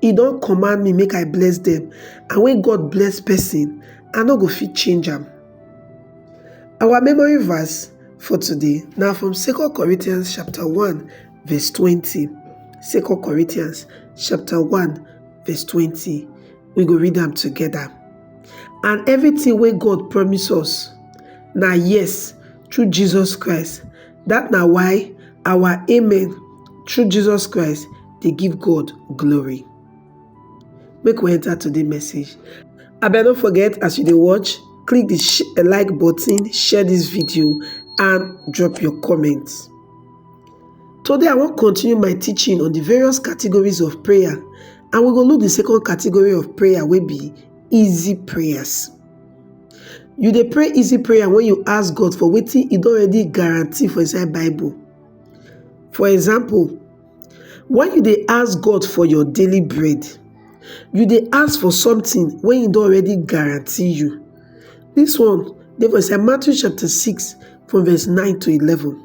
He don command me make I bless them, and when God bless person, I no go fit change am. Our memory verse for today now from 2 Corinthians chapter 1 verse 20. 2 Corinthians chapter 1 verse 20. We go read them together. And everything where God promise us, now yes, through Jesus Christ, Dat na why our amen through Jesus Christ dey give God glory. Make we enter today message. Abeg no forget as you dey watch, click the sh- eh, like button, share this video, and drop your comment. Today I wan continue my teaching on the various categories of prayer, and we go look the second category of prayer wey be easy prayers. You dey pray easy prayer when you ask God for wetin He don already guarantee for inside Bible. For example, when you dey ask God for your daily bread, you dey ask for something when He don already guarantee you. This one dey for inside Matthew chapter 6 from verse 9 to 11.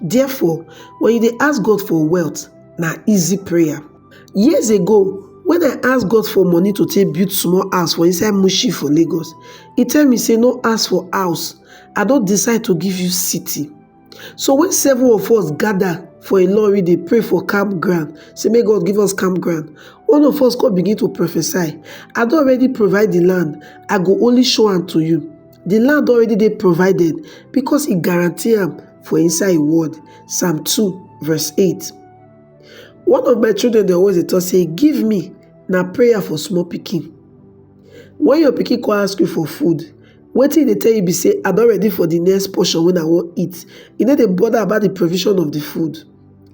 Therefore, when you dey ask God for wealth, na easy prayer. Years ago, when I ask God for money to take build small house for inside Mushi for Lagos, He tell me say no ask for house, I don decide to give you city. So when seven of us gather for Ilorin dey pray for campground, say make God give us campground, one of us come begin to prophesy, I don already provide the land, I go only show am to you. di land already dey provided because e guarantee am for inside im word, psalm two verse eight. One of my children dey always dey talk say give me na prayer for small pikin. When your pikin come ask you for food, wetin e dey tell you be say I don ready for the next portion wey I wan eat. E no dey bother about the provision of the food.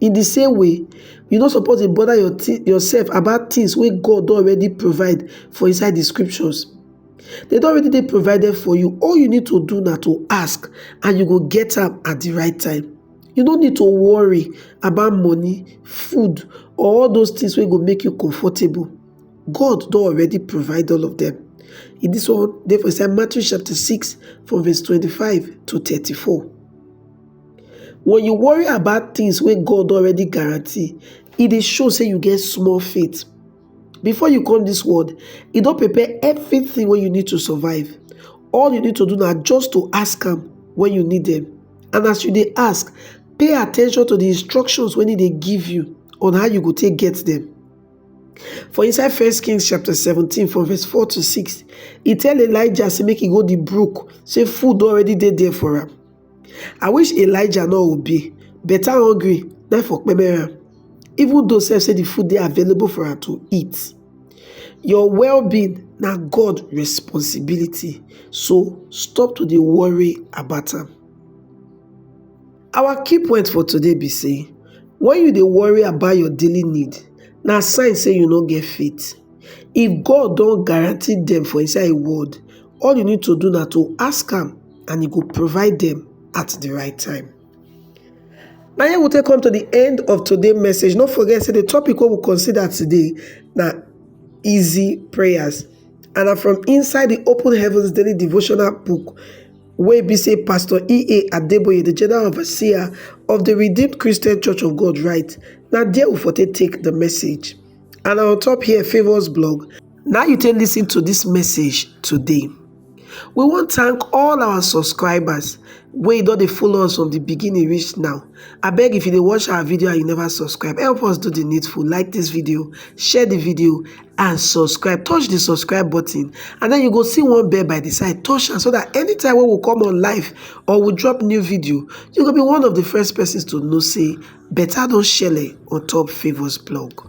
In the same way, you no suppose dey bother your yourself about things wey God don already provide for inside the scriptures. They don't already dey provided for you. All you need to do now to ask and you go get them at the right time. You don't need to worry about money, food or all those things wey go make you comfortable. God don't already provide all of them. In this one dey for inside Matthew chapter 6 from verse 25 to 34. When you worry about things where God already guarantee, it e shows show you get small faith. Before you come this world, e don prepare everything wey you need to survive. All you need to do na just to ask am when you need them. And as you dey ask, pay attention to the instructions wey e dey give you on how you go take get them. For inside First Kings chapter 17 from verse 4 to 6, e tell Elijah say make e go the brook, say food don already dey there for am. I wish Elijah no obey, better hungry na im for kpeme am even though sef say the food dey available for am to eat. Your well-being na God responsibility so stop to dey worry about am. Our key point for today be say when you dey worry about your daily need na sign say you no get faith. If God don guarantee dem for inside im word all you need to do na to ask am and e go provide dem at the right time. Na here we take come to the end of today message. No forget say the topic wey we consider today na easy prayers and na from inside the Open Heavens Daily Devotional book wey be say Pastor E.A. Adeboye, the General Overseer of the Redeemed Christian Church of God write. Na there we for take take the message. And on top here, Favours blog. Now you take listen to this message today. we wan thank all our subscribers wey don dey follow us from the beginning reach now abeg if you dey watch our video and you never subscribe help us do the needful like this video share the video and subscribe touch the subscribe button and then you go see one bell by the side touch am so that anytime wey we come on live or we drop new video you go be one of the first persons to know say better don shele on top favours blog